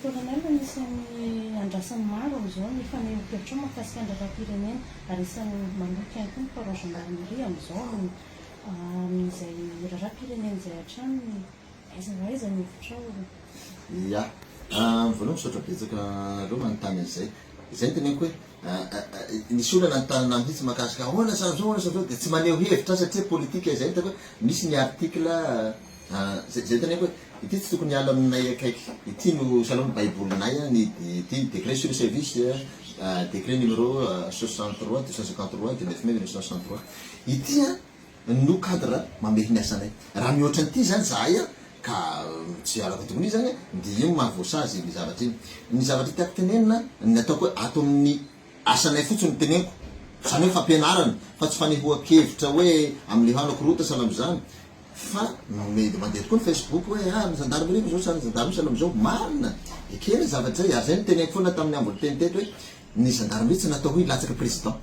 Colonel, anisan'ny andrasan'ny maro amin'izao ny fanehoan-kevitrao mahakasika ny lalàm-pirenena, ary isan'ny maloto ihany koa ny Poids Gendarmerie amin'izao amin'ny amin'izay lalàm-pirenena izay hatrany, aiza ho aiza ny hevitrao? Ya, voalohany misaotra betsaka anareo manontany an'izay, izay no teneniko hoe nisy olona nanontany ahy mihitsy mahakasika ahoana sa zao, ahoana sa zao, dia tsy maneho hevitra aho satria politika izay, ny hitako hoe misy ny article, Izay izay teneniko hoe ity tsy tokony hiala aminay akaiky ity no sahala amin'ny baibolinay an, ity décret sur le service décret numéro soixante trois deux cent cinquante trois du neuf mai mille neuf cent soixante trois ity an no cadre mamehy ny asanay. Raha mihoatra an'ity izany izahay an ka tsy hialako antokon'io izany an dia io no maha voasazy ny zavatra iny. Ny zavatra tiako tenenina an, ny ataoko hoe ato amin'ny. Asanay fotsiny no teneniko. Zany hoe fampianarana fa tsy fanehoan-kevitra hoe amin'ilay hano akorota sahala amin'izany fa mety mandeha tokoa ny facebook hoe ah ny zandarimeri fa zao sahala ny zandarme sahala amin'izao. Marina! Ekena izay zavatra izay ary izay no teneniko foana tamin'ny ambony teny teto hoe ny zandarimeri tsy natao hoe hilatsaka president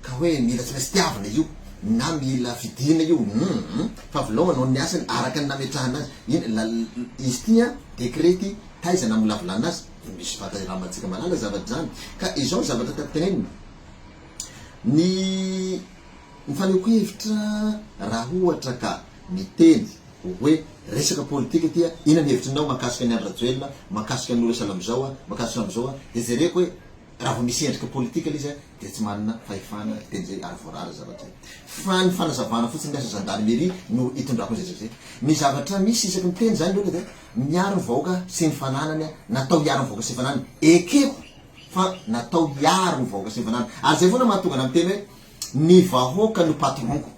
ka hoe mila tsy maintsy tiavina io na mila fidina io humm fa avelao hanao ny asany araka ny nametrahana azy iny izy ity an, decret ity taiza namolavolana azy? Dia misy vata iramantsika malala zavatra izany. Ka izao ny zavatra tiako tenenina. Ny ny fanehoako hevitra raha ohatra ka miteny hoe resaka politika ity aho, inona ny hevitrinao mahakasika an'i Andry Rajoelina, mahakasika an'i Nourissa Lamizao, mahakasika an'izao aho, dia jereko hoe raha vao misy endrika politika ilay izy aho dia tsy manana fahefana hiteny izay ary voarara izay zavatra izay. Fa ny fanazavana fotsiny ny asa zandarimeria no itondrako an'izay zavatra izay. Ny zavatra misy isaky ny teny izany loatra dia Miaro ny vahoaka sy ny fananany natao hiaro ny vahoaka sy ny fananany, ekeko fa natao hiaro ny vahoaka sy ny fananany ary zay foana mahatonga anah miteny hoe ny vahoaka no patron-ko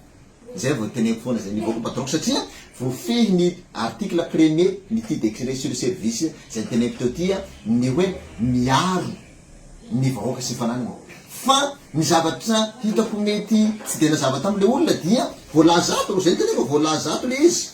zay vao teneniko foana zay ny vahoaka no patron-ko satria voafehy ny article premier n'ity decret sur le service zay niteneniko teo ty ny hoe miaro ny vahoaka sy ny fananany fa ny zavatra hitako mety tsy dia nazava tamle olona dia voalaza ato zay niteneniko voalaza ato le izy.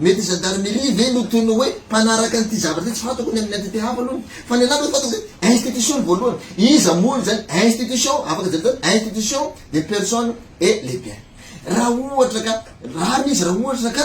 Mety gendarmerie ve no toy ny hoe mpanaraka an'ity zavatra ity, tsy fantako ny amin'ny entité hafa aloha, fa ny anah fantako zay institution ny voalohany, iza moa olo zany, institution, afaka jerena zany, institution des personnes et les biens. Raha ohatra ka rariny izy, raha ohatra ka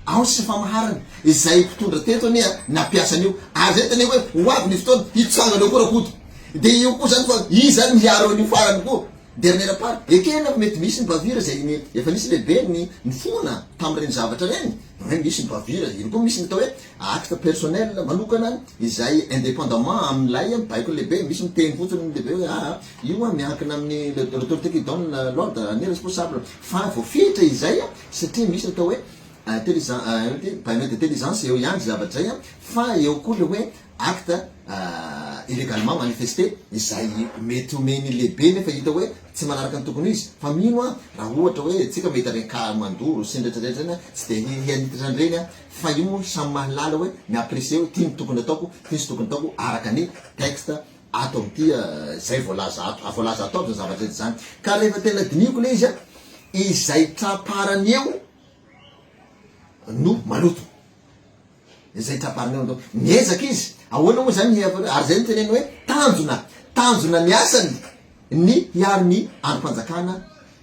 ao ny sifamaharana, izay mpitondra teto anie nampiasa an'io, ary zay tena hoe ho avy ny fotoana hitsangana eo koa rakoto, dia io koa zany fa iza ary miaro an'io farany koa, Dernière part, ekena fa mety misy ny bavure izay ny efa nisy lehibe ny nifohona tamin'ireny zavatra ireny, na hoe misy ny bavure, iny koa misy ny atao hoe acte personnel manokana izay indépendamment amin'ilay baikon'ny lehibe, misy miteny fotsiny ny lehibe hoe aa io an miankina amin'ny l'autorité qui donne l'ordre ny responsable fa voafetra izay satria misy ny atao hoe intelligent baigno d'intelligence eo ihany izay zavatra izay fa eo koa ilay hoe acte illégalement manifesté izay mety omen'ny lehibe nefa hita hoe tsy manaraka ny tokony ho izy fa mino aho raha ohatra hoe tsika mahita ireny cas mandoro sy ny retraretra ireny tsy dia hianitra an'ireny aho fa io moa samy mahalala hoe mi apprécier hoe ty ny tokony ataoko ty ny tsy tokony ataoko araka ny texte ato amin'ity izay voalaza ato voalaza ato aby izany zavatra eto izany ka rehefa tena dinihiko ilay izy izay tra-parany eo no maloto Izay trabarina eo androany. Miezaka izy. Ahoana moa izany ary izay no tenenina hoe tanjona. Tanjona ny asany ny hiaro ny andrim-panjakana,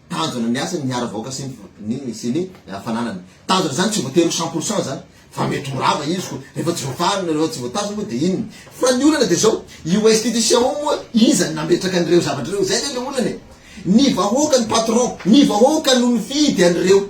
tanjona ny asany ny hiaro vahoaka sy ny sy ny fananany. Tanjona izany tsy voatery ho cent pour cent izany fa mety ho rava izy koa rehefa tsy voafarina, rehefa tsy voatazona moa dia inona. Fa ny olana dia izao, io institution io moa iza no nametraka an'ireo zavatra ireo? Izay ve ilay olana e! Ny vahoaka no patron, ny vahoaka no nifidy an'ireo.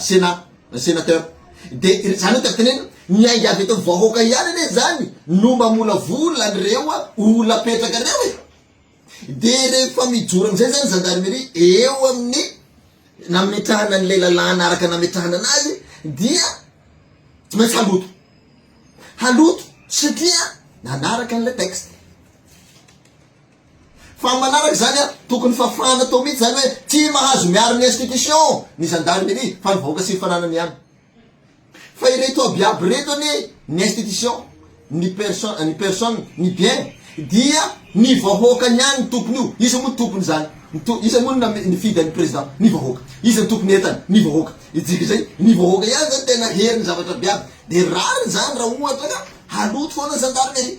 Sénat, Sénateur. Dia izany no tiako tenena, ny ainga avy eto amin'ny vahoaka ihany anie izany no mamolavola an'ireo olona-petraka ireo e! Dia rehefa mijoro amin'izay izany ny Gendarmerie eo amin'ny nametrahana an'ilay lalàna araka ny nametrahana anazy dia tsy maintsy haloto. Haloto satria nanaraka an'ilay texte. Fa ny manaraka izany an, tokony fafana atao mihitsy izany hoe tsy mahazo miaro ny institutions ny gendarmerie fa ny vahoaka sy ny fananany ihany. Fa ireto aby iaby ireto anie ny institutions, ny person, ny personnes, ny biens dia ny vahoaka ihany ny tompony io. Iza moa ny tompony izany? Ny to, iza moa no nifidy an'i Président? Ny vahoaka. Iza ny tompony entana? Ny vahoaka. Ijika izay, ny vahoaka ihany izany tena hery ny zavatra aby iaby. Dia rariny izany raha ohatra ka haloto foana ny gendarmerie.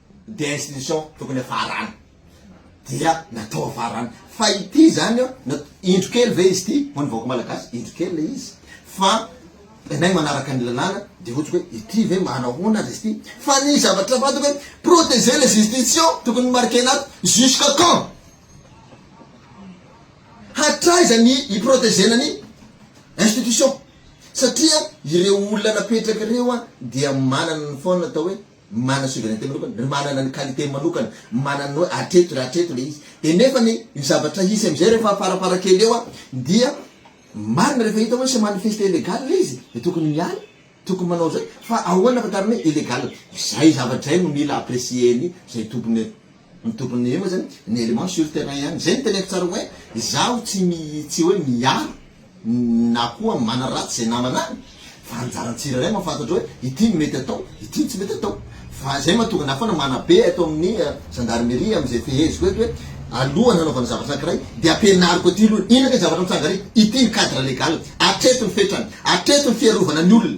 Dia institution tokony hafarana dia natao hafarana fa ity zany an, indro kely ve izy ity ho an'ny vahoaka malagasy? Indro kely ilay izy fa ianay manaraka ny lalàna dia ohatra hoe ity ve manahoana aza izy ity? Fa ny zavatra fantako hoe proteger les institutions tokony nomarquena ato jusqu'à quand? Hatraiza ny hi-proteger-na ny institution? Satria ireo olona napetraka ireo dia manana ny foana atao hoe. Manana souveraineté manokana, ry manana ny qualité-ny manokana, manana ny hoe hatreto ry hatreto ilay izy. Dia nefa ny ny zavatra hisy amin'izay rehefa farafara kely eo dia marina rehefa hita hoe se manifeste illégal ilay izy dia tokony miala, tokony manao izay. Fa ahoana ahafantarana hoe illégal? Izay zavatra izay no mila apprécier-ny izay tompony. Ny tokony eo zany ny element sur terrain ihany. Zay no teneniko tsara hoe izaho tsy mi tsy hoe miaro na koa manaratsy zay namana any fa anjaran'ny tsirairay mahafantatra hoe ity no mety atao ity no tsy mety atao fa zay mahatonga na foana manabe eto amin'ny gendarmerie amin'izay feheziko eto hoe alohan'ny hanaovana zavatra anankiray dia ampianariko aty aloha inona kay zavatra mitsanga ary ity ny cadre legal atreto ny fetrany atreto ny fiarovana ny olona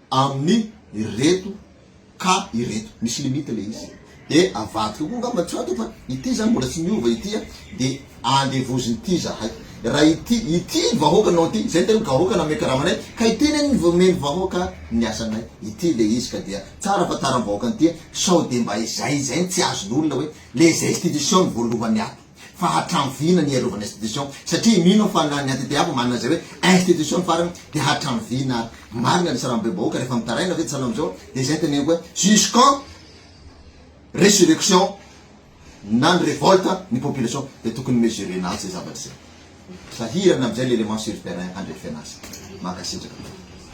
Amin ireto ka ireto. Misy limite le izy. De avadika koa ngamba tsy ato fa ity zany mbola tsy miova ity a. De andevozin ity zahay. Raha ity, ity vahoaka nao ity, zay tena gahoaka nanome karama anay, ka ity ne ny vomen vahoaka ny asanay. Ity le izy ka dia tsara fantaram vahoaka an'ity a. Sao de mba izay izay no tsy azon olona hoe le zay institution no voalohany ato. fa hatramin'ny vy na ny hiarovana institution satria mino aho fa na ny ATTAP manana izay hoe institution ny farany dia hatramin'ny vy na ary marina ilay sarambe bahoaka rehefa mitaraina ve tsy sahala amin'izao dia izay teneniko hoe jus quand resurrection na ny revolte ny population dia tokony mesurer na izay zavatra izay sahirana amin'izay ilay élément sur terrain handrefena azy mankasitraka